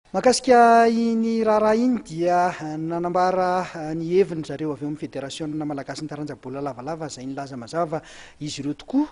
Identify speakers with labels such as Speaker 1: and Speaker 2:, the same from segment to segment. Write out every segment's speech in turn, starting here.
Speaker 1: Mahakasika iny raharaha iny dia nanambara ny heviny zareo avy ao amin'ny Federasiona Malagasin'ny Taranja Baolina Lavalava izay nilaza mazava izy ireo tokoa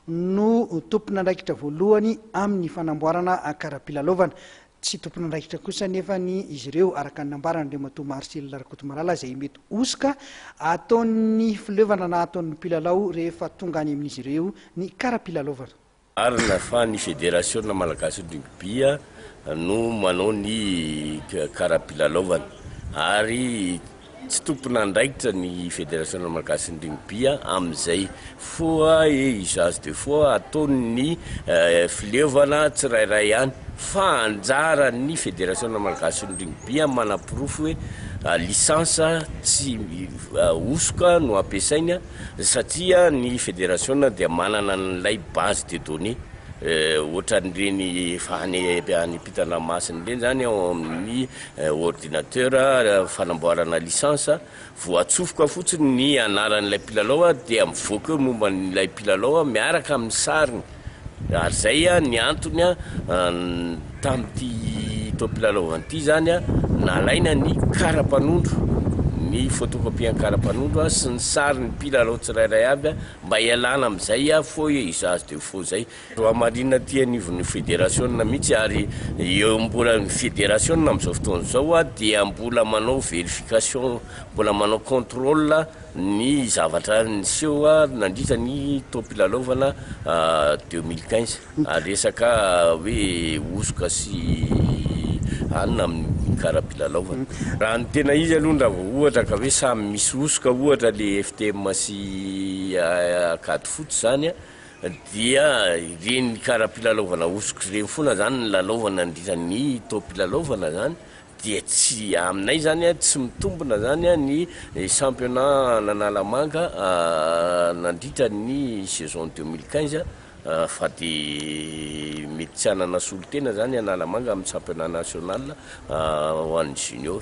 Speaker 1: no tompon'andraikitra voalohany amin'ny fanamboarana kara-pilalaovana. Tsy tompon'andraikitra kosa anefa ny izy ireo araka ny nambaran'Andriamatoa Marcel Rakotomalala izay mety hosoka ataon'ny fileovana na ataon'ny mpilalao rehefa tonga any amin'izy ireo ny kara-pilalaovana. Marina fa
Speaker 2: ny Federasiona Malagasy Rugby no manao ny kara-pilalaovana ary tsy tompon'andraikitra ny Federasiona Malagasy Rugby amin'izay foa et usage de foa ataon'ny fileovana tsirairay ihany fa anjaran'ny Federasiona Malagasy Rugby manaporofo hoe licence tsy hosoka no ampiasainy Satria ny federasiona dia manana an'ilay base de données ohatran'ireny efa any any am-pitan-dranomasina ireny izany ao amin'ny ordinateur fanamboarana licence, voatsofoka fotsiny ny anaran'ilay mpilalao dia mivoaka eo momba an'ilay mpilalao miaraka amin'ny sariny. Ary izay ny antony tamin'ity toa mpilalao ity izany nalaina ny karapanondro, ny photocopie ny karapanondro sy ny sary ny mpilalao tsirairay avy mba hialana amin'izay faux et usage de faux izay. Hamarinina aty anivon'ny federasiona mihitsy ary eo mbola ny federasiona amin'izao fotoana izao dia mbola manao verification, mbola manao contrôle ny zavatra niseho nandritra ny taom-pilalaovana deux mille quinze, resaka hoe hosoka sy anona amin'ny kara-pilalaovana. Raha ny tena izy aloha raha vao ohatra ka hoe samy misy hosoka ohatra ilay FTM sy Acad Foot izany dia ireny kara-pilalaovana hosoka ireny foana izany no lalaovana nandritra ny taom-pilalaovana izany. Dia tsy aminay izany tsy mitombina izany ny championnat an'Analamanga nandritra ny saison deux mille quinze fa dia mety tsy hanana solontena izany Analamanga amin'ny championnat national ho an'ny junior.